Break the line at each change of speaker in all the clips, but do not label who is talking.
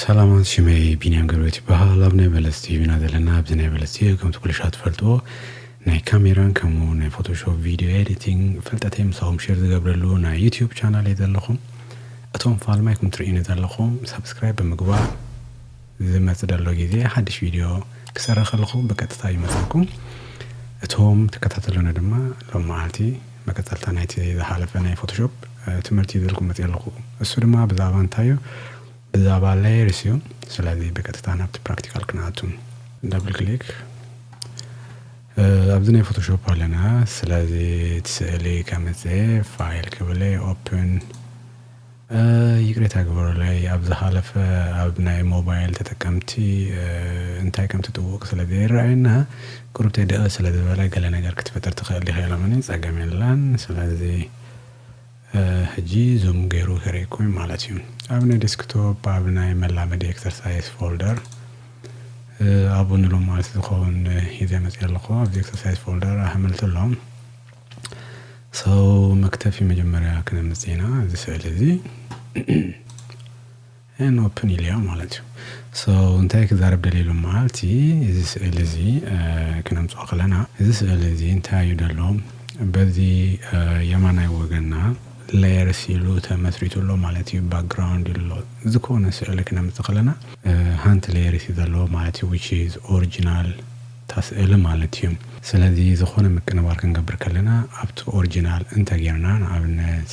ሰላማት ሽመይ ቢንያም ገብረት ይበሃል ኣብ ናይ በለስ ቲቪ ኢና ዘለና ኣብዚ ናይ በለስ ቲቪ ከምቲ ኩሉ ሻ ትፈልጥዎ ናይ ካሜራን ከምኡ ናይ ፎቶሾፕ ቪድዮ ኤዲቲንግ ፍልጠተይ ምሳኹም ሼር ዝገብረሉ ናይ ዩትዩብ ቻናል እየ ዘለኹም እቶም ፋልማይኩም ትርእዩኒ ዘለኹም ሳብስክራይብ ብምግባር ዝመጽእ ደሎ ግዜ ሓድሽ ቪድዮ ክሰርሕ ከለኹ ብቀጥታ ይመጸኩም እቶም ትከታተሉኒ ድማ ሎም መዓልቲ መቀጸልታ ናይቲ ዝሓለፈ ናይ ፎቶሾፕ ትምህርቲ ይዘልኩም መጽየ ኣለኹ እሱ ድማ ብዛባ እንታይ እዩ ብዛባ ላየርስ እዩ ስለዚ ብቀጥታ ናብቲ ፕራክቲካል ክንኣቱ ዳብል ክሊክ ኣብዚ ናይ ፎቶሾፕ ኣለና ስለዚ እቲ ስእሊ ከምጽ ፋይል ክብለ ኦፕን ይቅሬታ ግበሩለይ ኣብ ዝሓለፈ ኣብ ናይ ሞባይል ተጠቀምቲ እንታይ ከም ትጥውቅ ስለ ዘይረኣየና ቁሩብ ተዲቀ ስለ ዝበለ ገለ ነገር ክትፈጥር ትክእል ዲካ ኢሎምኒ ጸገም የለን ስለዚ ሕጂ ዙም ገሩ ከርእየኩም እዩ ማለት እዩ ኣብ ናይ ዴስክቶፕ ኣብ ናይ መላመዲ ኤክሰርሳይስ ፎልደር ኣብኡ ንሎሚ መዓልቲ ዝከውን ሒዘ መጽየ ኣለኩ ኣብዚ ኤክሰርሳይስ ፎልደር ኣሕምልቲ ኣሎ። So መክተፊ መጀመርያ ክነምጽ ኢና እዚ ስእሊ እዚ ን ኦፕን ኢለዮ ማለት እዩ ሶ እንታይ ክዛረብ ደልየ ሎም መዓልቲ እዚ ስእሊ እዚ ክነምጽኦ ከለና እዚ ስእሊ እዚ እንታይ እዩ ደሎ በዚ የማናይ ወገና ላየርስ ኢሉ ተመስሪቱ ኣሎ ማለት እዩ ባክግራውንድ ኢሉ ኣሎ ዝኾነ ስእሊ ክነምጽእ ከለና ሃንቲ ላየርስ እዩ ዘለዎ ማለት እዩ which is ኦርጅናል ታስእሊ ማለት እዩ። ስለዚ ዝኾነ ምቅንባር ክንገብር ከለና ኣብቲ ኦርጂናል እንተ ጌርና ንኣብነት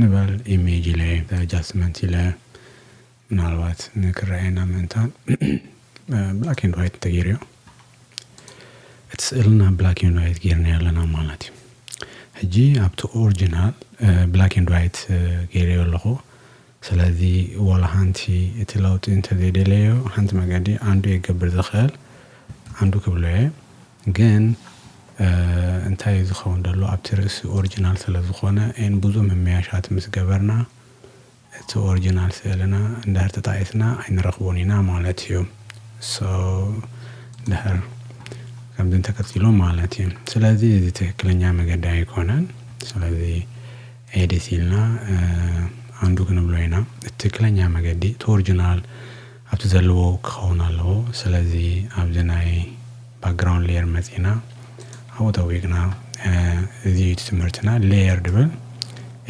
ንበል ኢሜጅ ኢለ ኣጃስትመንት ኢለ ምናልባት ንክረኣየና ምእንታን ብላክ ኤንድ ዋይት እንተ ጌርዮ እቲ ስእልና ብላክ ኤንድ ዋይት ጌርናዮ ኣለና ማለት እዩ። ሕጂ ኣብቲ ኦርጂናል ብላክ ኤንድ ዋይት ጌርዮ ኣለኹ። ስለዚ ዋላ ሓንቲ እቲ ለውጢ እንተዘይደለዮ ሓንቲ መገዲ ኣንዱ የገብር ዝኽእል ኣንዱ ክብሎ እየ ግን እንታይ እዩ ዝኸውን ደሎ ኣብቲ ርእሲ ኦርጅናል ስለዝኾነ ን ብዙ ምምያሻት ምስ ገበርና እቲ ኦርጅናል ስእልና እንድሕር ተጣኢስና ኣይንረኽቦን ኢና ማለት እዩ so እንድሕር ከምዚ እንተቀጺሉ ማለት እዩ ስለዚ እዚ ትክክለኛ መገዲ ኣይኮነን ስለዚ ኤዲት ኢልና ኣንዱ ክንብሎ ኢና እቲ ትክክለኛ መገዲ እቲ ኦርጅናል ኣብቲ ዘለዎ ክኸውን ኣለዎ ስለዚ ኣብዚ ናይ ባክግራውንድ ሌየር መጺና ኣብኡ ጠዊቅና እዚ እዩ እቲ ትምህርትና ሌየር ድብል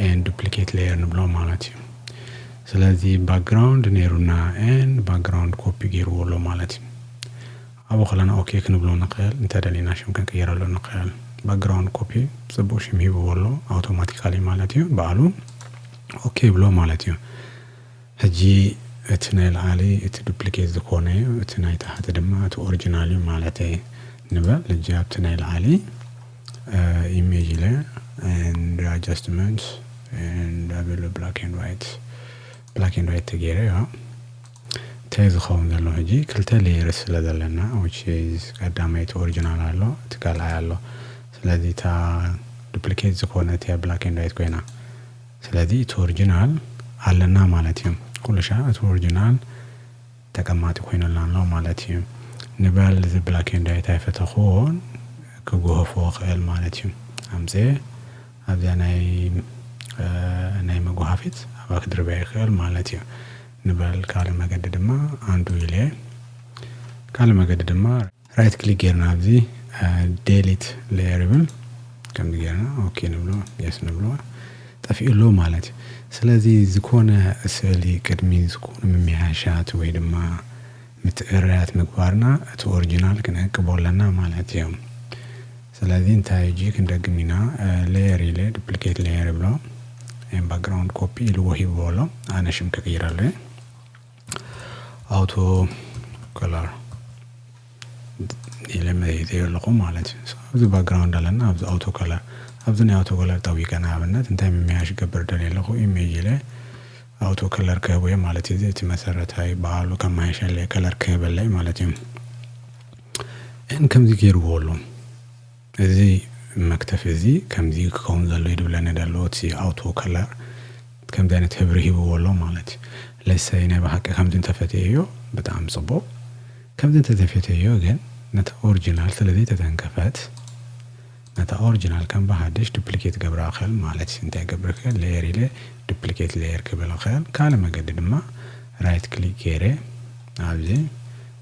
ኤንድ ዱፕሊኬት ሌየር ንብሎ ማለት እዩ ስለዚ ባክግራውንድ ነይሩና ኤንድ ባክግራውንድ ኮፒ ገይርዎ ኣሎ ማለት እዩ ኣብኡ ከለና ኦኬ ክንብሎ ንኽእል እንተ ደሊና ሽም ክንቅይረሉ ንኽእል ባክግራውንድ ኮፒ ጽቡቅ ሽም ሂብዎ ኣሎ ኣውቶማቲካሊ ማለት እዩ ባዕሉ ኦኬ ይብሎ ማለት እዩ ሕጂ እቲ ናይ ላዕሊ እቲ ዱፕሊኬት ዝኾነ እዩ እቲ ናይ ታሕቲ ድማ እቲ ኦሪጂናል እዩ ማለት ንበል ሕጂ ኣብቲ ናይ ላዕሊ ኢሜጅ ኢለ and adjustments and available black and white black and white ተገይረ ያ እንታይ ዝከውን ዘሎ ሕጂ ክልተ ሌየርስ ስለ ዘለና which is ቀዳማይ እቲ ኦርጅናል ኣሎ እቲ ካልኣይ ኣሎ ስለዚ እታ ዱፕሊኬት ዝኮነት እያ ብላክ ኤንድ ዋይት ኮይና ስለዚ እቲ ኦርጅናል ኣለና ማለት እዩ ኩሉሻ እቲ ኦርጅናል ተቀማጢ ኮይኑልና ኣሎ ማለት እዩ ንበል እዚ ብላክ ኤንድ ዋይት ኣይፈተክዎን ክጉህፎ ክእል ማለት እዩ ኣምፅኤ ኣብዚኣ ናይ ናይ መጉሃፊት ኣብኣ ክድርብያ ይክእል ማለት እዩ ንበል ካልእ መገዲ ድማ Undo ኢለ ካልእ መገዲ ድማ Right Click ጌርና ኣብዚ Delete Layer ይብል ከምዚ ጌርና ኦኬ ንብሎ Yes ንብሎ ጠፊኡ ኣሎ ማለት እዩ ስለዚ ዝኾነ ስእሊ ቅድሚ ዝኾነ ምምሕያሻት ወይ ድማ ምትእርያት ምግባርና እቲ ኦሪጂናል ክንዕቅቦ ኣለና ማለት እዩ። ስለዚ እንታይ ሕጂ ክንደግም ኢና Layer ኢለ Duplicate Layer ይብሎ and Background Copy ኢልዎ ሂብዎ ኣሎ ኣነ ሽም ክቅይረሉ እየ Auto Color ኢለ መሪተዮ ኣለኹ ማለት እዩ ኣብዚ ባክግራውንድ ኣለና ኣብዚ Auto Color ኣብዚ ናይ Auto Color ጠዊቀ ንኣብነት እንታይ ምምያሽ ገብር ደልየ ኣለኹ ኢሜጅ ኢለ Auto Color ክህቦ እየ ማለት እዩ እቲ መሰረታዊ በዓሉ ከመያየሸለይ ከለር ክህበለይ ማለት እዩ እን ከምዚ ገይርዎ ኣሎ እዚ መክተፊ እዚ ከምዚ ክከውን ዘሎ እዩ ድብለኒ ደሎ እቲ ኣውቶ ከለር ከምዚ ኣይነት ህብሪ ሂብዎ ኣሎ ማለት እዩ ለሰይ ናይ ብሓቂ ከምዚ እንተፈተየዮ ብጣዕሚ ጽቡቅ ከምዚ እንተዘይፈተየዮ ግን ነቲ ኦርጅናል ስለ ዘይተተንከፈት ነታ ኦርጅናል ከም ብሓድሽ ዱፕሊኬት ገብራ እክእል ማለት እዩ እንታይ ክገብር እክእል ሌየር ኢለ ዱፕሊኬት ሌየር ክብል እክእል ካልእ መገዲ ድማ ራይት ክሊክ ገይረ ኣብዚ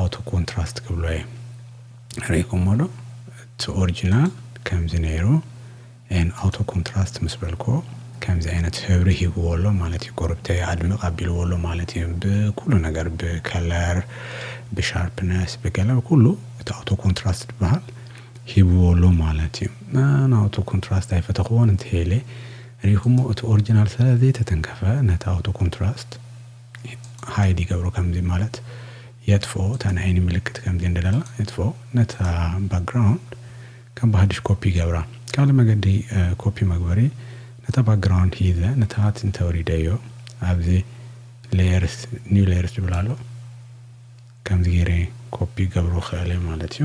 ኣውቶ ኮንትራስት ክብሎ እየ ሪኢኩሞ ዶ እቲ ኦርጂናል ከምዚ ነይሩ and ኣውቶ ኮንትራስት ምስ በልክዎ ከምዚ ዓይነት ህብሪ ሂብዎ ኣሎ ማለት እዩ ጎረብተይ ኣድምቅ ኣቢልዎ ኣሎ ማለት እዩ ብኩሉ ነገር ብከለር ብሻርፕነስ ብገለ ብኩሉ እቲ ኣውቶ ኮንትራስት ዝበሃል ሂብዎ ኣሎ ማለት እዩ ኣነ ኣውቶ ኮንትራስት ኣይፈተኽዎን እንተሄለ ሪኢኩሞ እቲ ኦርጂናል ስለ ዘይተተንከፈ ነቲ ኣውቶ ኮንትራስት ሃይድ ይገብሮ ከምዚ ማለት የጥፍኦ እታ ናይ ዓይኒ ምልክት ከምዚ እንደለላ የጥፍኦ ነታ ባክግራውንድ ከም ብሃድሽ ኮፒ ይገብራ ካልእ መገዲ ኮፒ መግበሪ ነታ ባክግራውንድ ሂዘ ንታሃት እንተውሪደዮ ኣብዚ ሌየርስ ኒው ሌየርስ ዝብል ኣሎ ከምዚ ገይረ ኮፒ ክገብሮ ይክእል እየ ማለት እዩ።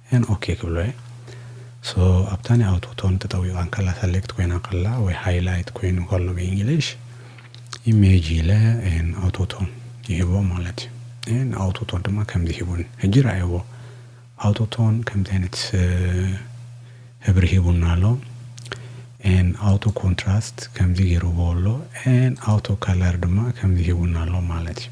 and ok ክብሎ እየ so ኣብታ ናይ ኣውቶ ቶን ተጠዊቃ እንከላ ሰሌክት ኮይና እንከላ ወይ ሃይላይት ኮይኑ ከሎ ብእንግሊሽ ኢሜጅ ኢለ and ኣውቶ ቶን ይህቦ ማለት እዩ and ኣውቶ ቶን ድማ ከምዚ ሂቡኒ ሕጂ ረኣይዎ ኣውቶ ቶን ከምዚ ዓይነት ህብሪ ሂቡና ኣሎ and ኣውቶ ኮንትራስት ከምዚ ገይርዎ ኣሎ and ኣውቶ ከለር ድማ ከምዚ ሂቡና ኣሎ ማለት እዩ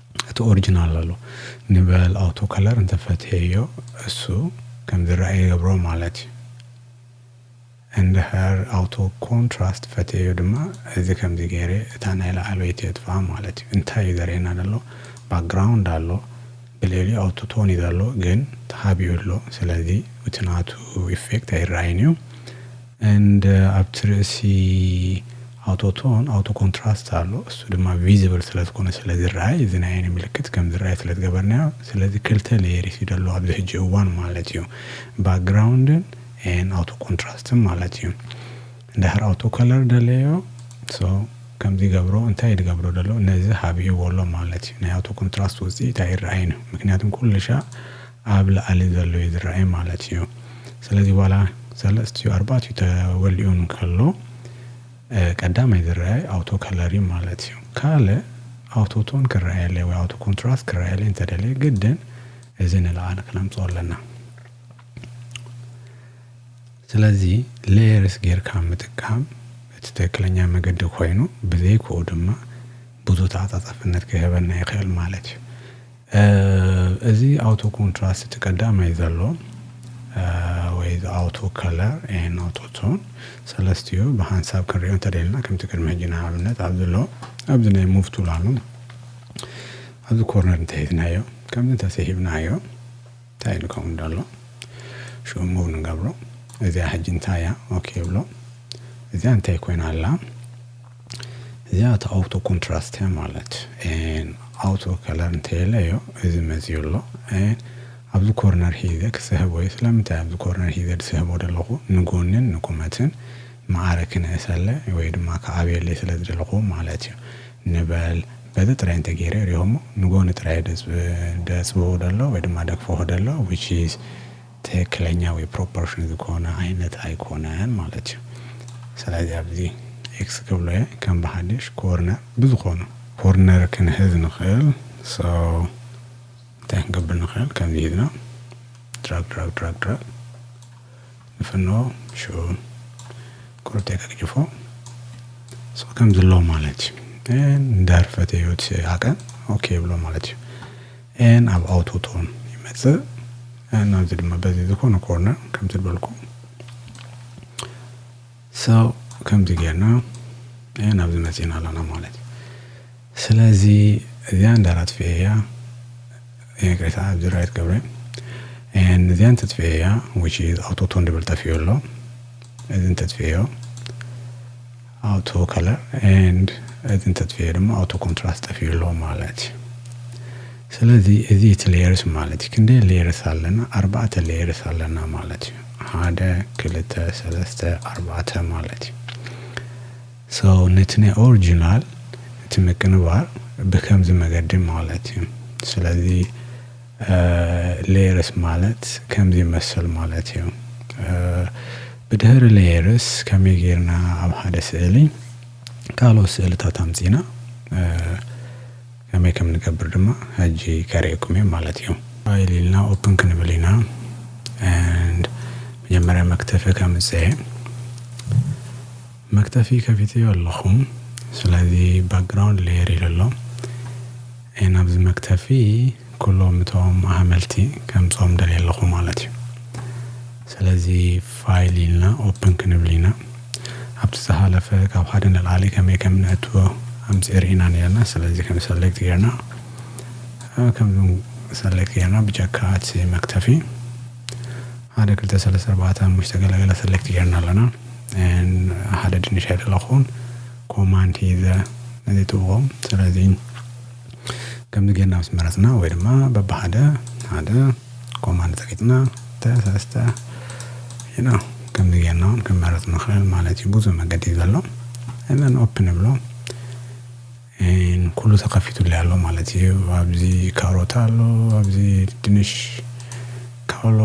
እቲ ኦርጅናል ኣሎ ንበል ኣውቶ ከለር እንተ ፈትሔዮ እሱ ከም ዝረኣ ይገብሮ ማለት እዩ እንድሕር ኣውቶ ኮንትራስት ፈትሔዮ ድማ እዚ ከምዚ ገይረ እታ ናይ ላዕለወይቲ የጥፍኣ ማለት እዩ እንታይ እዩ ዘርእየና ዘሎ ባክግራውንድ ኣሎ ብልዕሊኡ ኣውቶ ቶን እዩ ዘሎ ግን ተኻቢኡ ኣሎ ስለዚ እቲ ናቱ ኢፌክት ኣይረኣይን እዩ and ኣብቲ ርእሲ ኣውቶቶን ኣውቶ ኮንትራስት ኣሎ እሱ ድማ ቪዝብል ስለ ዝኾነ ስለ ዝረኣይ እዚ ናይ ዓይኒ ምልክት ከም ዝረኣይ ስለ ዝገበርናዮ ስለዚ ክልተ ሌየሪስ እዩ ደለዎ ኣብዚ ሕጂ እዋን ማለት እዩ ባክግራውንድን and ኣውቶ ኮንትራስትን ማለት እዩ እንድሕር ኣውቶ ከለር ደለዮ so ከምዚ ይገብሮ እንታይ ድገብሮ ደሎ ነዚ ሃቢእዎ ኣሎ ማለት እዩ ናይ ኣውቶ ኮንትራስት ውፅኢት ኣይረኣይን እዩ ምክንያቱም ኩልሻዕ ኣብ ላእሊ ዘሎ እዩ ዝረኣይ ማለት እዩ ስለዚ ዋላ ሰለስቲኡ ኣርባእቲኡ ተወሊኡ እንከሎ ቀዳማይ ዝረኣይ ኣውቶ ከለር እዩ ማለት እዩ ካልእ ኣውቶ ቶን ክረኣየለይ ወይ ኣውቶ ኮንትራስት ክረኣየለይ እንተደለየ ግድን እዚ ንላእሊ ክነምፅኦ ኣለና ስለዚ ሌየርስ ጌርካ ምጥቃም እቲ ትክክለኛ መገዲ ኮይኑ ብዘይክኡ ድማ ብዙ ተዓፃፃፍነት ክህበና ይኽእል ማለት እዩ እዚ ኣውቶ ኮንትራስት እቲ ቀዳማይ ዘሎ ወይ እዚ ኣውቶ ከለር ኤን ኣውቶ ቶን ሰለስቲኡ ብሓንሳብ ክንሪኦ እንተደልና ከምቲ ቅድሚ ሕጂ ንኣብነት ኣብዚ ኣሎ ኣብዚ ናይ ሙቭ ቱል ኣሎ ኣብዚ ኮርነር እንተሒዝናዮ ከምዚ እንተስሒብናዮ እንታይ ኢሉ ከምኡ ደሎ ሽኡ ሙቭ ንገብሮ እዚኣ ሕጂ እንታይ እያ ኦኬ ይብሎ እዚኣ እንታይ ኮይና ኣላ እዚኣ እታ ኣውቶ ኮንትራስት እያ ማለት ን ኣውቶ ከለር እንተየለ እዮ እዚ መፅዩ ኣሎ ን ኣብዚ ኮርነር ሒዘ ክስሕቦ እየ ስለምንታይ ኣብዚ ኮርነር ሒዘ ድስሕቦ ደለኹ ንጎንን ንቁመትን መዓረ ክነእሰለ ወይ ድማ ክዓብየለይ ስለ ዝደለኹ ማለት እዩ ንበል በዚ ጥራይ እንተገይረ ሪኦሞ ንጎኒ ጥራይ እየ ደፅብቦ ደሎ ወይ ድማ ደግፈሆ ደሎ which is ትክክለኛ ወይ ፕሮፖርሽን ዝኮነ ዓይነት ኣይኮነን ማለት እዩ ስለዚ ኣብዚ ኤክስ ክብሎ እየ ከም ብሓድሽ ኮርነር ብዝኮኑ ኮርነር ክንሕዝ ንክእል so እንታይ ክንገብር ንክእል ከምዚ ሂዝና ድራግ ድራግ ድራግ ድራግ ንፍኖ ሽኡ ቁርብ ተገግጅፎ so ከምዚ ኣሎ ማለት እዩ እንዳርፈተ ህይወት ኣቀን ኦኬ ይብሎ ማለት እዩ and ኣብ ኣውቶ ቶን ይመጽእ and ኣብዚ ድማ በዚ ዝኾነ ኮርነር ከምዚ ዝበልኩ so ከምዚ ጌርና and ኣብዚ መጺና ኣለና ማለት እዩ ስለዚ እዚያ እንዳራት ፍየያ ይቅሬታ ኣብዚ ራይት ገብረ and እዚያ እንትትፍየያ which is ኣውቶ ቶን ድብል ጠፊኡ ኣሎ እዚ እንትትፍየዮ ኣውቶ ከለር ኤንድ እዚ እንተጥፊኤ ድማ ኣውቶ ኮንትራስት ጠፊኡ ኣሎ ማለት እዩ ስለዚ እዚ እቲ ሌየርስ ማለት እዩ ክንደይ ሌየርስ ኣለና ኣርባዕተ ሌየርስ ኣለና ማለት እዩ ሓደ ክልተ ሰለስተ ኣርባዕተ ማለት እዩ ሶ ነቲ ናይ ኦሪጂናል እቲ ምቅንባር ብከምዚ መገዲ ማለት እዩ ስለዚ ሌየርስ ማለት ከምዚ ይመስል ማለት እዩ። ብድህሪ ሌየርስ ከመይ ጌርና ኣብ ሓደ ስእሊ ካልኦት ስእልታት ኣምጺና ከመይ ከም ንገብር ድማ ሕጂ ከርእየኩም እየ ማለት እዩ። ፋይል ኢልና ኦፕን ክንብል ኢና and መጀመርያ መክተፊ ከምጽእ እየ። መክተፊ ከፊተዮ ኣለኹ ስለዚ ባክግራውንድ ሌየር ኢሉ ኣሎ እየ ናብዚ መክተፊ ኩሎም እቶም ኣሃመልቲ ከምጾም ደልየ ኣለኹ ማለት እዩ ስለዚ ፋይል ኢልና ኦፕን ክንብል ኢና ኣብቲ ዝሃለፈ ካብ ሓደ ንላዕሊ ከመይ ከም ነእትዎ ኣምጺ ርኢና ነርና ስለዚ ከም ሰሌክት ጌርና ከምዚ ሰሌክት ጌርና ብጀካ እቲ መክተፊ ሓደ ክልተ ሰለስተ ኣርባዕተ ሓሙሽተ ገለ ገለ ሰለክት ጌርና ኣለና ሓደ ድንሽ ኣይደለኹን ኮማንድ ሂዘ ነዚ ትብዎም ስለዚ ከምዚ ጌርና ምስ መረፅና ወይ ድማ በብሓደ ሓደ ኮማንድ ፀቂጥና ተሰስተ ኢና ከምዚ ጌርና እውን ክንመርፅ ንኽእል ማለት እዩ ብዙ መገዲ እዩ ዘሎ እዘን ኦፕን ንብሎ ን ኩሉ ተከፊቱለይ ኣሎ ማለት ኢዩ ኣብዚ ካሮት ኣሎ ኣብዚ ድንሽ ካውሎ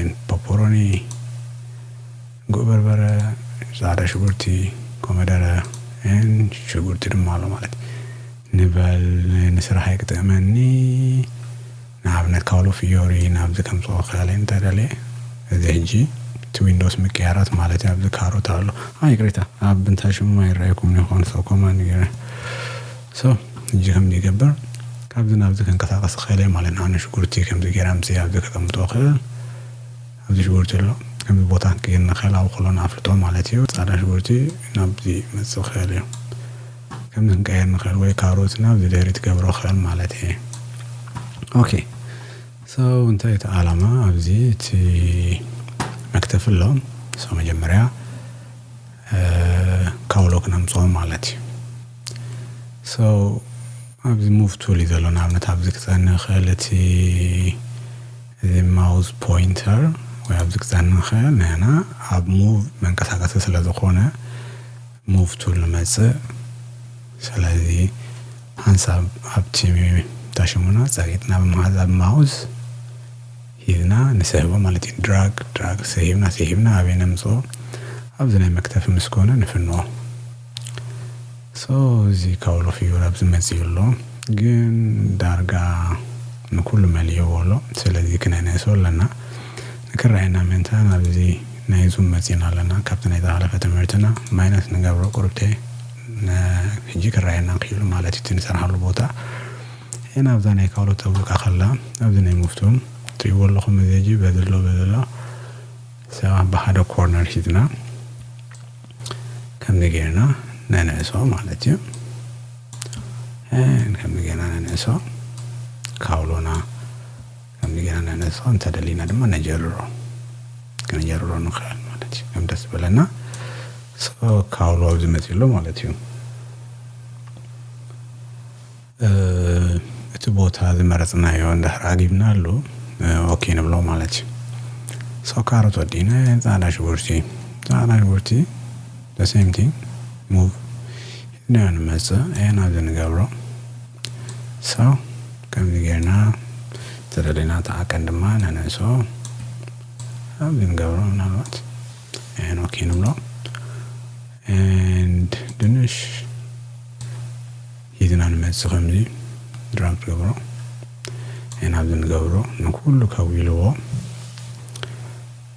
ን ፖፖሮኒ ጉዕ በርበረ ጻዕዳ ሽጉርቲ ኮመደረ ን ሽጉርቲ ድማ ኣሎ ማለት ኢዩ ንበል ንስራሐይ ክጥእመኒ። ንኣብነት ካሎ ፍዮሪ ናብዚ ከምጽኦ ክኣለ እንተ ደልየ እዚ ሕጂ እቲ ዊንዶውስ ምቅያራት ማለት እዩ ኣብዚ ካሮት ኣሎ ኣይ ይቅሬታ ኣብ እንታይ ሽሙ ኣይረኣየኩምን ይኾን ሶ ኮማንድ ገይረ ሶ ሕጂ ከምዚ ይገብር ካብዚ ናብዚ ከንቀሳቀስ ክእል እየ ማለት ንኣብነት ሽጉርቲ ከምዚ ገይረ ኣምጽእ ኣብዚ ከቀምጦ ክእል ኣብዚ ሽጉርቲ ኣሎ ከምዚ ቦታ ክንቅይር ንክእል ኣብኡ ከሎና ኣፍልጦ ማለት እዩ ጻዕዳ ሽጉርቲ ናብዚ መጽእ ክእል እዩ ከመይ ክንቀይር ንክእል ወይ ካብ ሩት ናብ ዝደሪ ትገብሮ ክእል ማለት እየ ኦኬ so እንታይ እቲ ኣላማ ኣብዚ እቲ መክተፍ ኣሎ so መጀመርያ ካውሎ ክነምፅኦ ማለት እዩ so ኣብዚ ሙቭ ቱል እዩ ዘሎ ንኣብነት ኣብዚ ክፀኒ ክእል እቲ እዚ ማውዝ ፖይንተር ወይ ኣብዚ ክፀኒ ክእል ንሕና ኣብ ሙቭ መንቀሳቀሲ ስለ ዝኾነ ሙፍቱ ልመጽእ ስለዚ ሓንሳብ ኣብቲ ታሽሙና ጸቂጥና ብምሓዝ ኣብ ማውዝ ሂብና ንስሕቦ ማለት እዩ ድራግ ድራግ ስሒብና ስሒብና ኣበይ ነምጽኦ ኣብዚ ናይ መክተፊ ምስ ኮነ ንፍንዎ ሶ እዚ ካውሎ ፊዩር ኣብዚ መጽዩ ኣሎ ግን ዳርጋ ንኩሉ መሊእዎ ኣሎ ስለዚ ክነንእሶ ኣለና ክረኣየና ምእንተ ናብዚ ናይ ዙም መጺና ኣለና ካብቲ ናይ ዝሓለፈ ትምህርትና ማይነስ ንገብሮ ቁርብተይ ን ሕጂ ክረኣየና ክኢሉ ማለት እዩ እቲ ንሰርሓሉ ቦታ ን ኣብዛ ናይ ካልኦት ተብሉካ ከላ ኣብዚ ናይ ሙፍቱም ትሪእዎ ኣለኹም እዚ ሕጂ በዚ ኣሎ በዚ ኣሎ ሰባት ብሓደ ኮርነር ሒዝና ከምዚ ጌርና ነንዕሶ ማለት እዩ ን ከምዚ ጌርና ነንዕሶ ካውሎና ከምዚ ጌና ነህነፆ እንተደሊና ድማ ነጀርሮ ከነጀርሮ ንኽእል ማለት እዩ ከም ደስ ዝበለና ሶ ካውሎ ኣብዚ መፂኡ ኣሎ ማለት እዩ እቲ ቦታ ዝመረፅናዮ እንድሕር ኣጊብናሉ ኦኬ ንብሎ ማለት እዩ ሶ ካሮት ወዲእና ፃዕዳ ሽጉርቲ ፃዕዳ ሽጉርቲ the same thing move ሒዝናዮ ንመጽእ and ኣብዚ ንገብሮ so ከምዚ ጌርና ተደሊና እቲ ዓቀን ድማ ነንእሶ ኣብዚ ንገብሮ ምናልባት and ኦኬ ንብሎ and ድንሽ ሒዝና ንመጽእ ከምዚ ድራግ ትገብሮ and ኣብዚ ንገብሮ ንኩሉ ከዊልዎ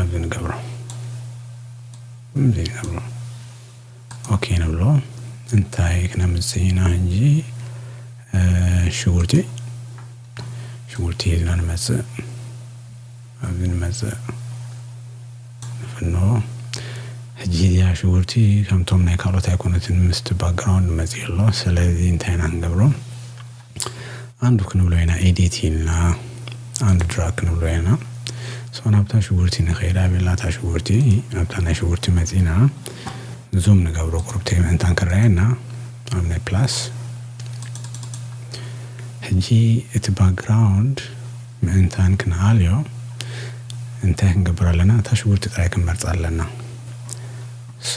ኣብዚ ንገብሮ እዚ ንገብሮ ኦኬ ንብሎ እንታይ ክነምፅእ ኢና እንጂ ሽጉርቲ ሽጉርቲ ሒዝና ንመፅእ ኣብዚ ንመፅእ ንፍኖ ሕጂ እዚኣ ሽጉርቲ ከምቶም ናይ ካልኦት ኣይኮነትን ምስቲ ባክግራውንድ መፂኡ ኣሎ ስለዚ እንታይ ኢና ንገብሮ ኣንዱ ክንብሎ ኢና ኤዲት ኢልና ኣንዱ ድራግ ክንብሎ ኢና ሶ ናብታ ሽጉርቲ ንኸይድ ኣበልና እታ ሽጉርቲ ኣብታ ናይ ሽጉርቲ መጺና ንዞም ንገብሮ ቁርብተይ ምእንታን ክረኣየና ኣብ ናይ ፕላስ ሕጂ እቲ ባክግራውንድ ምእንታን ክንኣልዮ እንታይ ክንገብር ኣለና እታ ሽጉርቲ ጥራይ ክንመርጻ ኣለና ሶ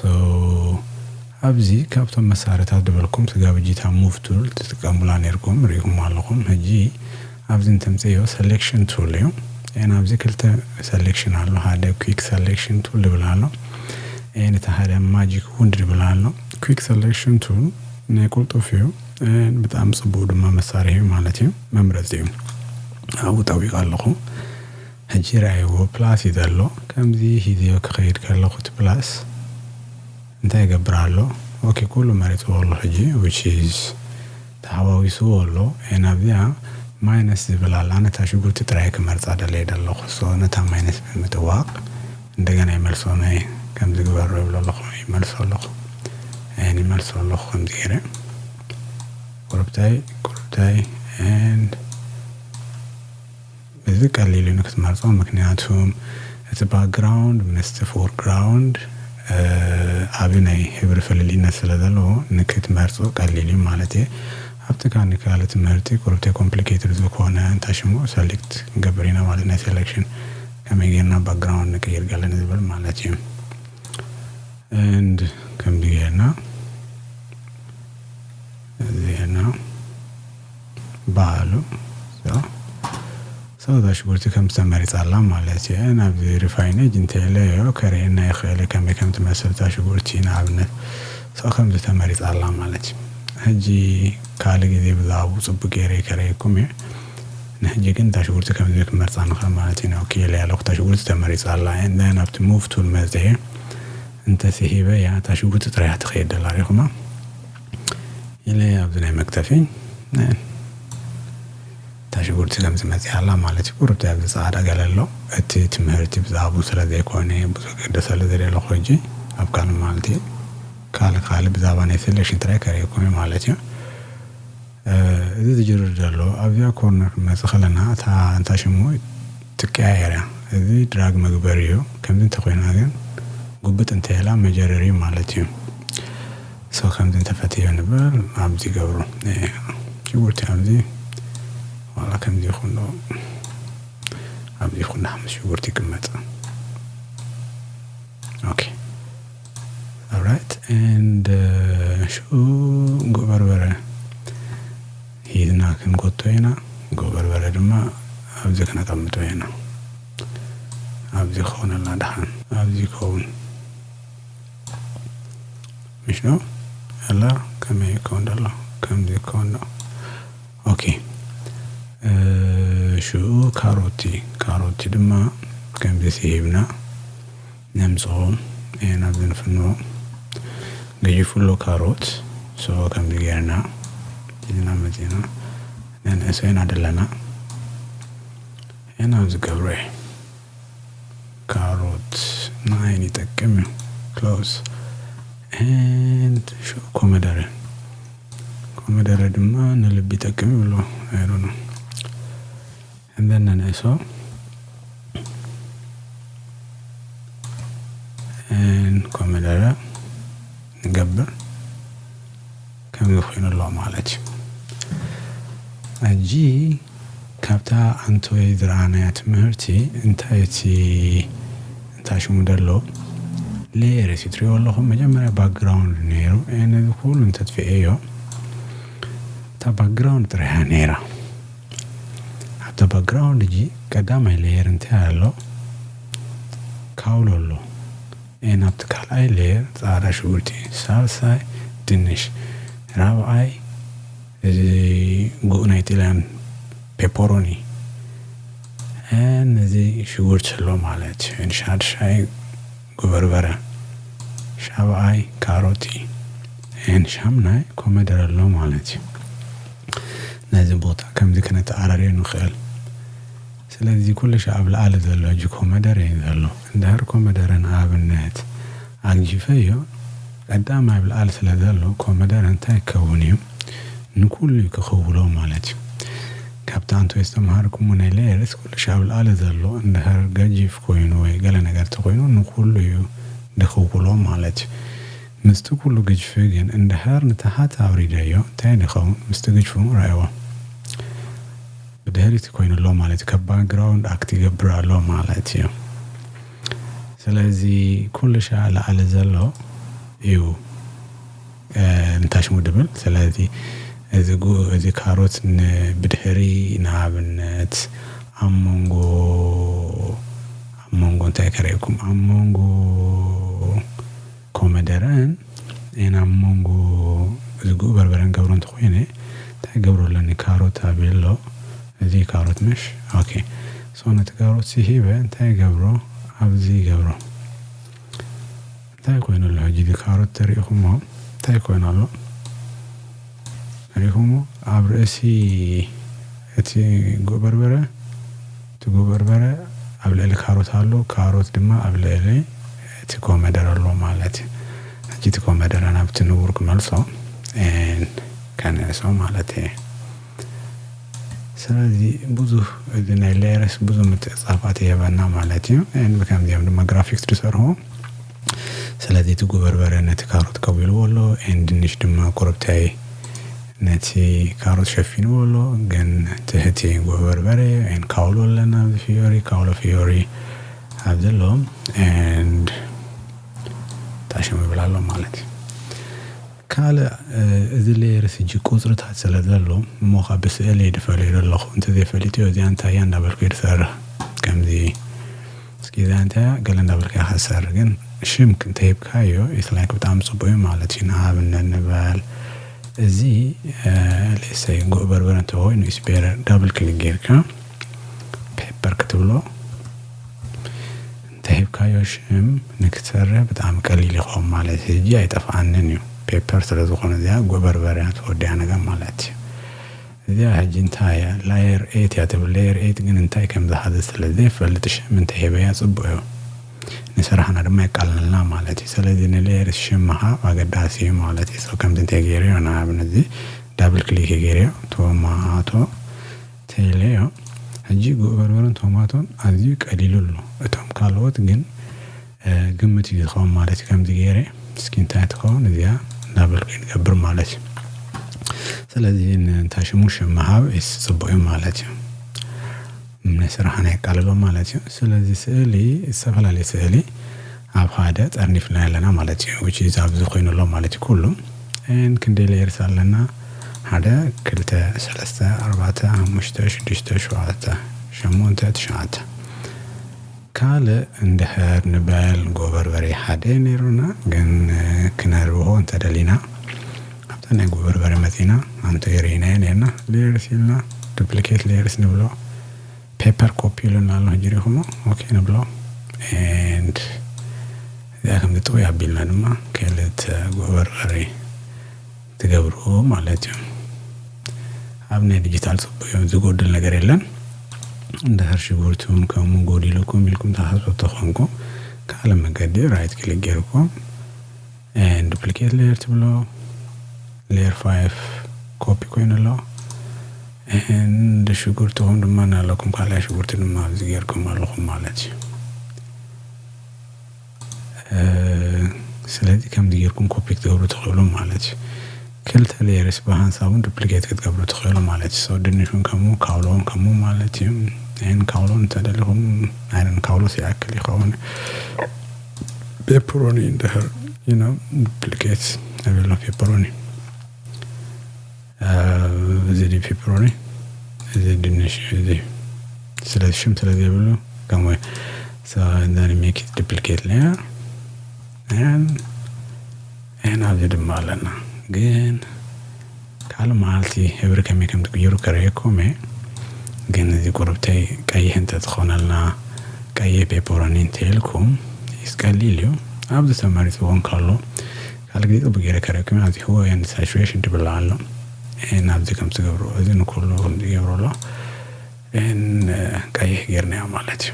ኣብዚ ካብቶም መሳርታት ድበልኩም ስጋ ብጂታ ሙቭ ቱል ትጥቀሙላ ኔርኩም ሪኢኩማ ኣለኹም ህጂ ኣብዚ ንተምጽእዮ ሰሌክሽን ቱል እዩ ኤን ኣብዚ ክልተ ሰሌክሽን ኣሎ ሃደ ኩክ ሰሌክሽን ቱል ድብል ኣሎ ኤን እቲ ሃደ ማጂክ ውንድ ድብል ኣሎ ኩክ ሰሌክሽን ቱል ናይ ቁልጡፍ እዩ ኤን ብጣዕሚ ጽቡቅ ድማ መሳርሒ እዩ ማለት እዩ መምረጺ እዩ ኣብኡ ጠዊቀ ኣለኹ ህጂ ርኣይዎ ፕላስ እዩ ዘሎ ከምዚ ሂዘዮ ክኸይድ ከለኹ እቲ ፕላስ እንታይ ይገብር ኣሎ ኦኬ ኩሉ መሪጽዎ ኣሎ ሕጂ which is ተሓዋዊስዎ ኣሎ and ኣብዚኣ ማይነስ ዝብል ኣሎ ኣነ እታ ሽጉርቲ ጥራይ እየ ክመርጻ ደልየ ደለኩ so ነታ ማይነስ ብምጥዋቅ እንደገና ይመልሶ ናይ ከምዚ ግበሮ ይብሎ ኣለኩ ይመልሶ ኣለኩ and ይመልሶ ኣለኩ ከምዚ ገይረ ቁርብታይ ቁርብታይ and እዚ ቀሊል እዩ ንክትመርጾ ምክንያቱ እቲ ባክግራውንድ ምስቲ ፎርግራውንድ ዓቢ ናይ ሕብሪ ፍልልይነት ስለ ዘለዎ ንክትመርጾ ቀሊል እዩ ማለት እየ ኣብቲ ካኣ ንካልእ ትምህርቲ ቁሩብ ተይኮምፕሊኬትድ ዝኮነ እንታይ ሽሙ ሰሌክት ክንገብር ኢና ማለት ናይ ሰሌክሽን ከመይ ጌርና ባክግራውንድ ንቅይር ገለ ንዝብል ማለት እዩ and ከምዚ ጌርና ዜና በሃሉ ሰው ሽጉርቲ ከም ዝተመሪፃ ኣላ ማለት እየ ናብዚ ሪፋይነጅ እንተለዮ ከርእየና ይኽእል ከመይ ከም ትመስል እታ ሽጉርቲ ንኣብነት ሰው ከምዚ ተመሪፃ ኣላ ማለት እዩ ሕጂ ካልእ ግዜ ብዛዕባኡ ፅቡቅ ገይረ ከረየኩም እየ ንሕጂ ግን እታ ሽጉርቲ ከምዚ ክመርፃ ንኽእል ማለት ኢና ኦኬ ኢለያ ኣለኹ እታ ሽጉርቲ ተመሪፃ ኣላ and then ኣብቲ move tool መፂኤ እንተስሒበያ እታ ሽጉርቲ ጥራይ እያ ትኸይድ ዘላ ሪእኹማ ኢለ ኣብዚ ናይ መግተፊ እታ ሽጉርቲ ከም ዝመጽኣ ኣላ ማለት እዩ ቁሩብ ኣብዚ ጻዕዳ ገለ ኣሎ እቲ ትምህርቲ ብዛዕብኡ ስለ ዘይኮነ ብዙሕ ክግደሰሉ ዘይደለኹ ሕጂ ኣብ ካልእ መዓልቲ ካልእ ካልእ ብዛዕባ ናይ ሰሌክሽን ጥራይ ከርእየኩም እየ ማለት እዩ። እዚ ዝጅርር ዘሎ ኣብዚኣ ኮርነር ክንመጽእ ከለና እታ እንታ ሽሙ ትቀያየር እያ እዚ ድራግ መግበሪ እዩ ከምዚ እንተ ኮይና ግን ጉብጥ እንተ ኢላ መጀረሪ እዩ ማለት እዩ ሶ ከምዚ እንተ ፈትዮ ንበር ኣብዚ ገብሩ ሽጉርቲ ኣብዚ ዋላ ከምዚ ይኹን ዶ ኣብዚ ይኹን ምስ ሽጉርቲ ይቅመጥ ኦኬ Alright and ሹ ጉዕ በርበረ ሂዝና ክንጎቶ ኢና ጉዕ በርበረ ድማ ኣብዚ ክነቀምጦ ኢና ኣብዚ ክኾነልና ድሓን ኣብዚ ይከውን ምሽ ነው ያላ ከመይ ይከውን ደሎ ከምዚ ይከውን ነው ኦኬ ሽኡ ካሮቲ ካሮቲ ድማ ከምዚ ስሂብና ነምጽኦ ኤን ኣብዚ ንፍኖ ገይፍሎ ካሮት ሶ ከምዚ ገርና ሒዝና መጺና ነንእሶ ኢና ደለና ኤን ኣብዚ ገብሮ እየ ካሮት ንዓይን ይጠቅም እዩ ክሎስ ኤን ኮመደረ ኮመደረ ድማ ንልቢ ይጠቅም ይብሎ ኣይዶኖ እምበር ነንእሶ ን ኮመደረ ንገብር ከምዚ ኮይኑ ኣሎ ማለት እዩ ሕጂ ካብታ ኣንቶይ ዝረኣናያ ትምህርቲ እንታይ እቲ እንታይ ሽሙ ደሎ ሌየር እቲ ትሪእዎ ኣለኹም መጀመርያ ባክግራውንድ ነይሩ ነዚ ኩሉ እንተጥፊኤዮ እታ ባክግራውንድ ጥራሕያ ነይራ ኣብታ ባክግራውንድ እጂ ቀዳማይ ሌየር እንታይ ኣሎ ካውሎ ኣሎ ኤን ኣብቲ ካልኣይ ሌየር ፃዕዳ ሽጉርቲ ሳልሳይ ድንሽ ራብዓይ እዚ ጉእ ናይ ጥልያን ፔፖሮኒ ን እዚ ሽጉርቲ ኣሎ ማለት ሻድሻይ ጉበርበረ ሻብኣይ ካሮት እዩ and ሻምናይ ኮመደረ ኣሎ ማለት እዩ ነዚ ቦታ ከምዚ ክነተኣራርዮ ንክእል ስለዚ ኩልሻ ኣብ ላኣሊ ዘሎ ሕጂ ኮመደረ እዩ ዘሎ እንድህር ኮመደረ ንኣብነት ኣግጂፈዮ ቀዳም ኣብ ልኣል ስለ ዘሎ ኮመደረ እንታይ ክከውን እዩ ንኩሉ እዩ ክክውሎ ማለት እዩ ካብቲ ኣንትዌ ዝተማሃርኩሞ ናይ ሌየርስ ኩሉሽ ኣብ ልኣለ ዘሎ እንድህር ገጂፍ ኮይኑ ወይ ገለ ነገር ተኮይኑ ንኩሉ እዩ ድክውሎ ማለት እዩ ምስቲ ኩሉ ግጅፊ ግን እንድህር ንታሃት ኣውሪደዮ እንታይ ድከውን ምስቲ ግጅፉ ረኣይዎ ብድህሪት ኮይኑ ኣሎ ማለት እዩ ካብ ባግራውንድ ኣክት ይገብር ኣሎ ማለት እዩ። ስለዚ ኩሉ ሻዕ ላዕሊ ዘሎ እዩ እንታሽሙ ድብል ስለዚ እዚ እዚ ካሮት ብድሕሪ ንኣብነት ኣብ መንጎ ኣብ መንጎ እንታይ ከርእየኩም ኣብ መንጎ ኮመደረ ኣየ ናብ ሞንጎ ዝግኡ በርበረን ገብሮ እንተ ኮይነ እንታይ ክገብሮ ኣለኒ ካሮት ኣብየ ኣሎ እዚ ካሮት መሽ ኦኬ ሶ ነቲ ካሮት ሲ ሂበ እንታይ ይገብሮ ኣብዚ ይገብሮ እንታይ ኮይኑ ኣሎ ሕጂ እዚ ካሮት ተሪኢኹሞ እንታይ ኮይኑ ኣሎ ሪኢኹሞ ኣብ ርእሲ እቲ ጉእ በርበረ ትጉ በርበረ ኣብ ልዕሊ ካሮት ኣሎ ካሮት ድማ ኣብ ልዕሊ እቲ ኮመደረ ኣሎ ማለት እዩ ሕጂ እቲ ኮመደረ ናብቲ ንቡር ክመልሶ ኤን ከንዕሶ ማለት እየ ስለዚ ብዙህ እዚ ናይ ሌየርስ ብዙ ምትዕጻፋት ይህበና ማለት እዩ ኤን ብከምዚኦም ድማ ግራፊክስ ድሰርሆ ስለዚ እቲ ጉበርበረ ነቲ ካሮት ከዊልዎ ኣሎ and ድንሽ ድማ ኮረብታይ ነቲ ካሮት ሸፊንዎ ኣሎ ግን ትሕቲ ጉበርበረ and ካውሎ ኣለና ኣብዚ ፍዮሪ ካውሎ ፍዮሪ ኣብ ዘሎ and ጣሽም ይብል ኣሎ ማለት እዩ ካልእ እዚ ሌየርስ እጂ ቁፅርታት ስለ ዘሎ እሞ ካብ ብስእሊ ድፈልዮ ዘለኹ እንተዘይፈሊጥዮ እዚኣ እንታይ እያ እንዳበልኩ እየ ድሰርሕ ከምዚ እስኪ ዛንታ ገለ እንዳበልካ ኢካ ሰር ግን ሽም እንተሂብካዮ ኢት ላይክ ብጣዕሚ ጽቡቅ እዩ ማለት እዩ ንኣብነት ንበል እዚ ሌትስ ሰይ ጉዕ በርበረ እንተኮይኑ ኢስ ቤተር ዳብል ክሊክ ጌርካ ፔፐር ክትብሎ እንተሂብካዮ ሽም ንክትሰርሕ ብጣዕሚ ቀሊል ይኸውን ማለት እዩ ሕጂ ኣይጠፍኣንን እዩ ፔፐር ስለዝኾነ እዚኣ ጉዕ በርበረ እያ ተወዲኣ ነገር ማለት እዩ እዚኣ ሕጂ እንታይ እያ ላየር ኤት እያ ትብል ለየር ኤት ግን እንታይ ከም ዝሓዘት ስለ ዘይፈልጥ ሽም እንተ ሂበያ ጽቡቅ እዩ ንስራሕና ድማ የቃልለልና ማለት እዩ ሰለዚ ንለየርስ ሽም ምሃብ ኣገዳሲ እዩ ማለት እዩ ሶ ከምዚ እንተ ጌርዮ ንኣብነት እዚ ዳብል ክሊክ ጌርዮ ቶማቶ ተይለዮ ሕጂ ጉዕ በርበረን ቶማቶን ኣዝዩ ቀሊሉ ኣሎ እቶም ካልኦት ግን ግምት እዩ ዝከውን ማለት እዩ ከምዚ ገይረ እስኪ እንታይ ትከውን እዚኣ እንዳበልኩ እዩ ንገብር ማለት እዩ ስለዚ እንታይ ሽሙ ሽም ምሃብ ኢስ ጽቡቅ እዩ ማለት እዩ ናይ ስራሕና የቃልሎ ማለት እዩ ስለዚ ስእሊ ዝተፈላለየ ስእሊ ኣብ ሓደ ጠርኒፍና ኣለና ማለት እዩ which is ኣብዚ ኮይኑ ኣሎ ማለት እዩ ኩሉ ን ክንደይ ሌየርስ ኣለና ሓደ ክልተ ሰለስተ ኣርባዕተ ሓሙሽተ ሽዱሽተ ሸውዓተ ሸሞንተ ትሽዓተ ካልእ እንድሕር ንበል ጎበርበሬ ሓደ ነይሩና ግን ክነርብሆ እንተደሊና ኣብታ ናይ ጎበርበሬ መጺና ኣንቱይ ርኢናዮ ነርና ሌየርስ ኢልና ዱፕሊኬት ሌየርስ ንብሎ ፔፐር ኮፒ ኢሉና ኣሎ ሕጂ ሪኹሞ ኦኬ ንብሎ ኤንድ እዚኣ ከምዚ ጥውይ ኣቢልና ድማ ክልተ ጎበርበሬ ትገብሩ ማለት እዩ ኣብ ናይ ድጅታል ጽቡቅ እዩ ዝጎድል ነገር የለን እንድሕር ሽጉርቲ ውን ከምኡ ጎዲሉኩም ኢልኩም ትሓስቡ ተኾንኩም ካልእ መገዲ ራይት ክሊክ ጌርኩም and duplicate layer ትብሎ layer 5 ኮፒ ኮይኑ ኣሎ and ሽጉርትኹም ድማ ናለኩም ካልኣይ ሽጉርቲ ድማ ኣብዚ ጌርኩም ኣለኹም ማለት እዩ ስለዚ ከምዚ ጌርኩም ኮፒ ክትገብሩ ትኽእሉ ማለት እዩ ክልተ ሌየርስ ብሃንሳብ ውን ዱፕሊኬት ክትገብሩ ትኽእሉ ማለት እዩ ሶ ድንሽ ውን ከምኡ ካውሎ ውን ከምኡ ማለት እዩ ን ካውሎ ን እንተደሊኹም ኣይ ዶንት ኖ ካውሎስ ይኣክል ይኸውን ፔፐሮኒ እንድሕር ዩ ኖው ዱፕሊኬት ኣይ ዊል ኖው ፔፐሮኒ። እዚ ድዩ ፒፕሮኒ እዚ ድንሽ እዚ ስለ ሽም ስለ ዘይብሉ ከምኡ so and then make it duplicate layer and and ኣብዚ ድማ ኣለና ግን ካልእ መዓልቲ ሕብሪ ከመይ ከም ትቅይሩ ከርእየኩም እየ ግን እዚ ቁርብተይ ቀይሕ እንተትኾነልና ቀይሕ ፔፐሮኒ እንተኢልኩም ይስቀሊል እዩ ኣብዚ ተመሪፅዎ እንከሎ ካልእ ግዜ ጽቡቅ ጌረ ተረኪበ ኣብጺሕዎ ኤንድ ሳቹሬሽን ድብሎ ኣሎ ኤን ኣብዚ ከምዚ ትገብርዎ እዚ ንኩሉ ከምዚ ይገብሮ ኣሎ ኤን ቀይሕ ጌርናዮ ማለት እዩ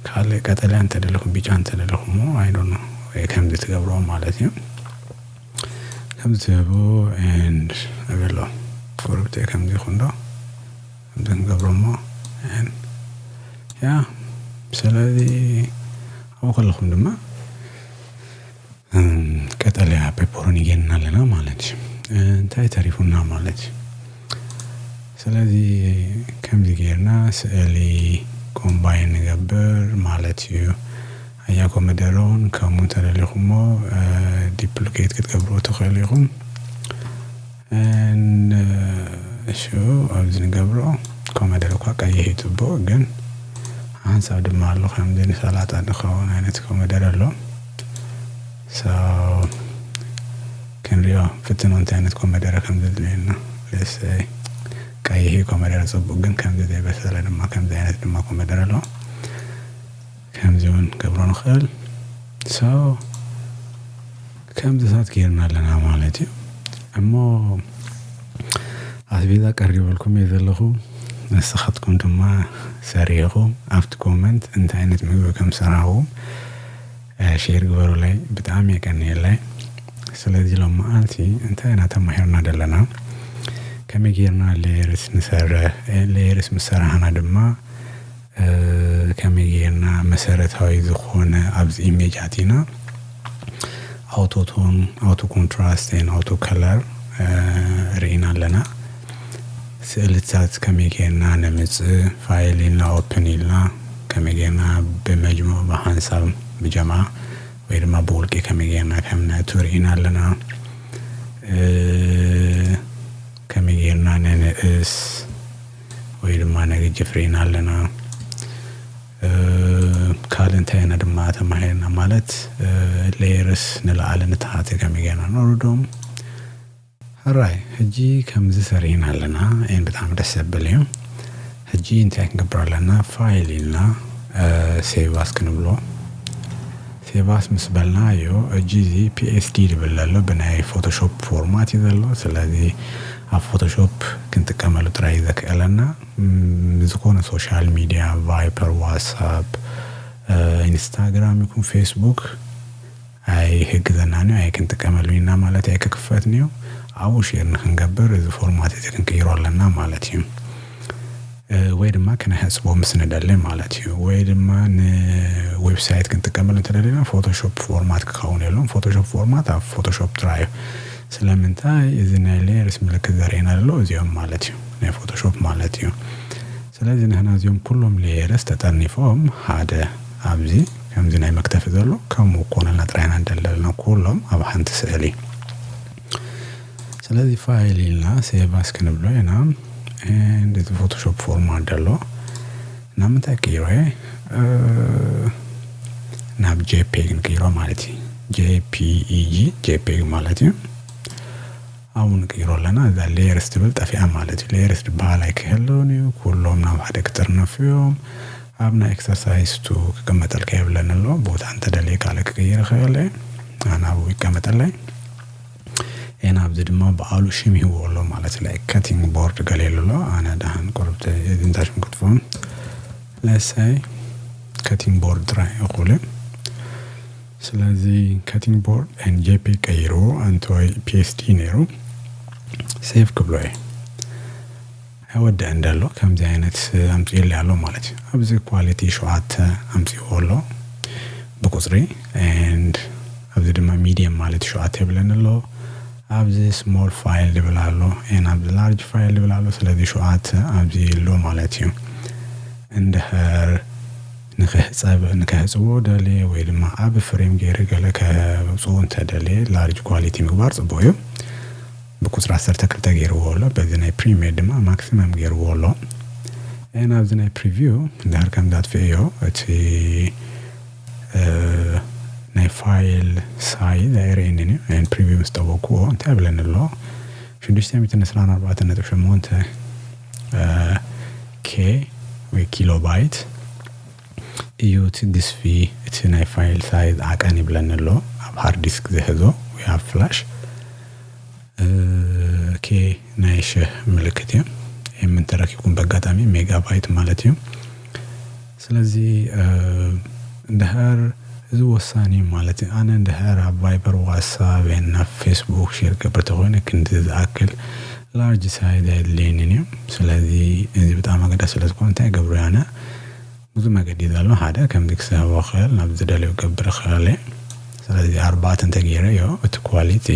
ካልእ ቀጠልያ እንተደለኹም ቢጫ እንተደለኹሞ ኣይ ዶንት ኖ ወይ ከምዚ ትገብርዎ ማለት እዩ ከምዚ ትህቡ ኤንድ እብሎ ጎረብተይ ከምዚ ይኹን ዶ ከምዚ ክንገብሮ እሞ ኤን ያ ስለዚ ኣብኡ ከለኹም ድማ ቀጠልያ ፔፐሮኒ ጌርና ኣለና ማለት እዩ እንታይ ተሪፉና ማለት እዩ። ስለዚ ከምዚ ጌርና ስእሊ ኮምባይን ንገብር ማለት እዩ። ኣያ ኮመደረ ውን ከምኡ እንተ ደሊኹሞ ዲፕሊኬት ክትገብርዎ ትኽእሉ ኢኹም። ን እሹ ኣብዚ ንገብሮ ኮመደረ እኳ ቀይሕ እዩ ጽቡቅ ግን ሓንሳብ ድማ ኣሎ ከምዚ ንሰላጣ ንከውን ኣይነት ኮመደረ ኣሎ ሶ ክንሪኦ ፍትኖ እንታይ ኣይነት ኮመደረ ከም ዘድልየና ለሰይ ቀይሕ እዩ ኮመደረ ጽቡቅ ግን ከምዚ ዘይበሰለ ድማ ከምዚ ኣይነት ድማ ኮመደረ ኣሎ። ከምዚ ውን ክንገብሮ ንክእል so ከምዚታት ጌርና ኣለና ማለት እዩ እሞ ኣስቤዛ ቀሪበልኩም እየ ዘለኹ ንስኻትኩም ድማ ሰሪሕኹም ኣብቲ ኮመንት እንታይ ዓይነት ምግቢ ከም ሰራሕኹም ሼር ግበሩለይ ብጣዕሚ የቀንየለይ ስለዚ ሎም መዓልቲ እንታይ ኢና ተማሂርና ዘለና ከመይ ጌርና ሌየርስ ንሰርሕ ሌየርስ ምስ ሰራሕና ድማ ከመይ ጌርና መሰረታዊ ዝኾነ ኣብዚ ኢሜጅ ኣቲና ኣውቶ ቶን ኣውቶ ኮንትራስት ኤን ኣውቶ ከለር ርኢና ኣለና ስእልታት ከመይ ጌርና ነምጽእ ፋይል ኢልና ኦፕን ኢልና ከመይ ጌርና ብመጅሙዕ ብሓንሳብ ብጀምዓ ወይ ድማ ብውልቂ ከመይ ጌርና ከም ነእቱ ርኢና ኣለና ከመይ ጌርና ነንእስ ወይ ድማ ናይ ግጂ ፍሬን ኣለና ካልእ እንታይ ኢና ድማ ተማሂርና ማለት ሌየርስ ንለዓሊ ንተሓተ ከመይ ጌርና ነውርዶም ሕራይ ሕጂ ከምዚ ሰሪሕና ኣለና ኤንድ ብጣዕሚ ደስ ዘብል እዩ ሕጂ እንታይ ክንገብር ኣለና ፋይል ኢልና ሴቭ ኣስ ክንብሎ። ሴቫስ ምስ በልና እዩ እጂ እዚ PSD ድብል ደሎ ብናይ ፎቶሾፕ ፎርማት እዩ ዘሎ ስለዚ ኣብ ፎቶሾፕ ክንጥቀመሉ ጥራይ እዩ ዘክእለና ዝኾነ ሶሻል ሚድያ ቫይፐር ዋትሳፕ ኢንስታግራም ይኩን ፌስቡክ ኣይህግዘናን እዩ ኣይክንጥቀመሉን ኢና ማለት ኣይክክፈትን እዩ ኣብኡ ሼር ንክንገብር እዚ ፎርማት እዚ ክንቅይሮ ኣለና ማለት እዩ። ወይ ድማ ክነሕጽቦ ምስ ንደሊ ማለት እዩ ወይ ድማ ንዌብሳይት ክንጥቀመሉ እንተደሊና ፎቶሾፕ ፎርማት ክኸውን የሎን ፎቶሾፕ ፎርማት ኣብ ፎቶሾፕ ጥራይ እዩ ስለምንታይ እዚ ናይ ሌየርስ ምልክት ዘርእየና ዘሎ እዚኦም ማለት እዩ ናይ ፎቶሾፕ ማለት እዩ ስለዚ ንሕና እዚኦም ኩሎም ሌየርስ ተጠርኒፎም ሓደ ኣብዚ ከምዚ ናይ መክተፊ ዘሎ ከምኡ ክኮነልና ጥራይ ኢና ንደሊ ዘለና ኩሎም ኣብ ሓንቲ ስእሊ። ስለዚህ ፋይል ኢልና ሴቭ ኣስ ክንብሎ ኢና እንደዚ ፎቶሾፕ ፎርማት ደሎ ናብ ምንታይ ክቅይሮ እየ ናብ ጄፒግ ንቅይሮ ማለት እዩ ጄፒኢጂ ጄፒግ ማለት እዩ ኣብኡ ንቅይሮ ኣለና እዛ ሌየርስ ትብል ጠፊኣ ማለት እዩ ሌየርስ ትበሃል ኣይክህልውን እዩ ኩሎም ናብ ሓደ ክጥርነፉ እዮም ኣብ ናይ ኤክሰርሳይስ ቱ ክቅመጠልካ የብለኒ ኣሎ ቦታ እንተ ደልየ ካልእ ክቅይር ይክእል እየ ኣነ ኣብኡ ይቀመጠለይ እየ ናብዚ ድማ በኣሉ ሽም ይህብዎ ኣሎ ማለት እዩ ላይክ ከቲንግ ቦርድ ገለ ኢሉ ኣሎ ኣነ ደሃን ቁርብቲ እዚንታ ሽም ክትፎም ለሳይ ከቲንግ ቦርድ ጥራይ እዩ ክብሉ ስለዚ ከቲንግ ቦርድ ኤን ጄፒ ቀይርዎ ኣንተ ወይ ፒኤስዲ ነይሩ ሴቭ ክብሎ እየ ኣይወደእን እንዶ ኣሎ ከምዚ ኣይነት ኣምጺኡለይ ኣሎ ማለት እዩ ኣብዚ ኳሊቲ ሸውዓተ ኣምጺእዎ ኣሎ ብቁጽሪ and ኣብዚ ድማ ሚድየም ማለት ሸውዓተ ይብለኒ ኣሎ ኣብዚ ስሞል ፋይል ዝብል ኣሎ and ኣብዚ ላርጅ ፋይል ዝብል ኣሎ ስለዚ ሸውዓተ ኣብዚ ኣሎ ማለት እዩ እንድሕር ንክሕጸብ ንከሕጽቦ ደልየ ወይ ድማ ኣብ ፍሬም ገይረ ገለ ከብጽኡ እንተደልየ ላርጅ ኳሊቲ ምግባር ጽቡቅ እዩ ብቁጽሪ ዓሰርተ ክልተ ጌርዎ ኣሎ በዚ ናይ ፕሪሜር ድማ ማክሲመም ጌርዎ ኣሎ and ኣብዚ ናይ ፕሪቪው እንድሕር ከምዚ ኣጥፊኤዮ እቲ ናይ ፋይል ሳይዝ ኣይርእየንን እዩ and ፕሪቪው ምስ ጠወቅኩዎ እንታይ ይብለኒ ኣሎ ሽዱሽተ ሚእትን ዕስራን ኣርባዕተን ነጥቢ ሸሞንተ ኬ ወይ ኪሎ ባይት እዩ እቲ ግዝፊ እቲ ናይ ፋይል ሳይዝ ዓቀን ይብለኒ ኣሎ ኣብ ሃርዲስክ ዝሕዞ ወይ ኣብ ፍላሽ ኦኬ ናይ ሽህ ምልክት እዩ ኤም እንተረኪብኩም በጋጣሚ ሜጋባይት ማለት እዩ ስለዚ እንድሕር እዚ ወሳኒ እዩ ማለት እዩ ኣነ እንድሕር ኣብ ቫይበር ዋትሳብ ናብ ፌስቡክ ሼር ገብረ ተኾይነ ክንዲ ዝኣክል ላርጅ ሳይዝ ኣየድልየንን እዩ ስለዚ እዚ ብጣዕሚ ኣገዳሲ ስለ ዝኮነ እንታይ ይገብሮ ኣነ ብዙ መገዲ እዩ ዘሎ ሓደ ከምዚ ክስሕቦ ክእል ናብ ዝደልዮ ክገብር ክእል እየ ስለዚ ኣርባዕተ እንተ ገይረ እዮ እቲ ኳሊቲ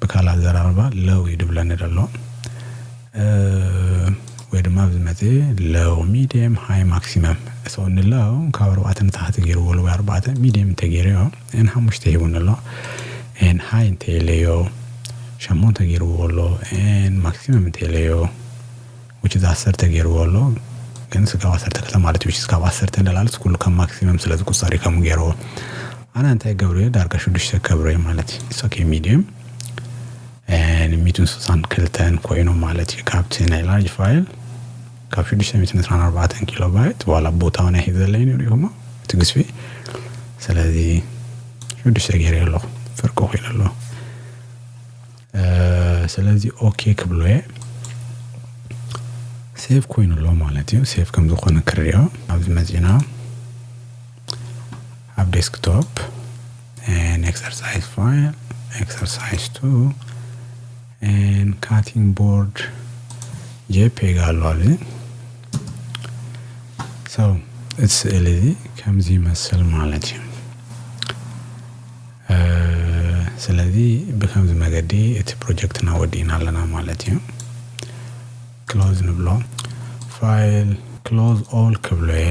ብካል ኣዘራርባ ለው እዩ ድብለኒ ደሎ ወይ ድማ ኣብዚ መጺ ለው ሚድየም ሃይ ማክሲመም ሶ ንለው ካብ ኣርባዕተ ንታሕቲ ገይርዎ ወይ ኣርባዕተ ሚድየም እንተ ገይረዮ። ን ሓሙሽተ ሂቡኒ ኣሎ ን ሃይ እንተ ኢለዮ ሸሞንተ ጌርዎ ኣሎ ን ማክሲመም እንተ ኢለዮ which is ዓሰርተ ጌርዎ ኣሎ ግን ስጋብ ዓሰርተ ክልተ ማለት which is ካብ ዓሰርተ ንላዕልስ ኩሉ ከም ማክሲመም ስለ ዝቁጸር እዩ ከምኡ ጌርዎ ኣነ እንታይ ገብረዮ ዳርጋ ሽዱሽተ ከብረዮ ማለት እዩ it's okay medium ን ሚእትን ስሳን ክልተን ኮይኑ ማለት እዩ ካብቲ ናይ ላርጅ ፋይል ካብ ሽዱሽተ ሚእትን ዕስራን ኣርባዕተን ኪሎባይት ዋላ ቦታ ውን ኣይሕዘለይን ሪኢኹሞ እቲ ግዝፊ ስለዚ ሽዱሽተ ገይረዮ ኣለኹ ፍርቂ ኮይኑ ኣሎ ስለዚ ኦኬ ክብሎ እየ ሴቭ ኮይኑ ኣሎ ማለት እዩ ሴቭ ከም ዝኾነ ክሪኦ ኣብዚ መጺና ኣብ ዴስክቶፕ ኤን ኤክሰርሳይዝ ፋይል ኤክሰርሳይዝ ቱ and cutting board jpeg ኣሎ ኣብዚ so እቲ ስእሊ እዚ ከምዚ ይመስል ማለት እዩ ስለዚ ብከምዚ መገዲ እቲ ፕሮጀክትና ወዲእና ኣለና ማለት እዩ ክሎዝ ንብሎ ፋይል ክሎዝ ኦል ክብሎ እየ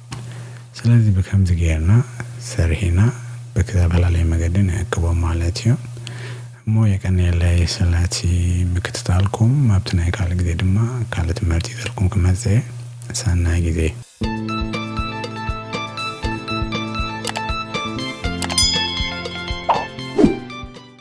ስለዚ ብከምዚ ገይርና ሰሪሒና ብክተፈላለየ መገዲ ንዕቅቦም ማለት እዩ እሞ የቀንየለይ ስለቲ ምክትታልኩም ኣብቲ ናይ ካልእ ግዜ ድማ ካልእ ትምህርቲ ይዘልኩም ክመጽእ እየ ሰናይ ግዜ።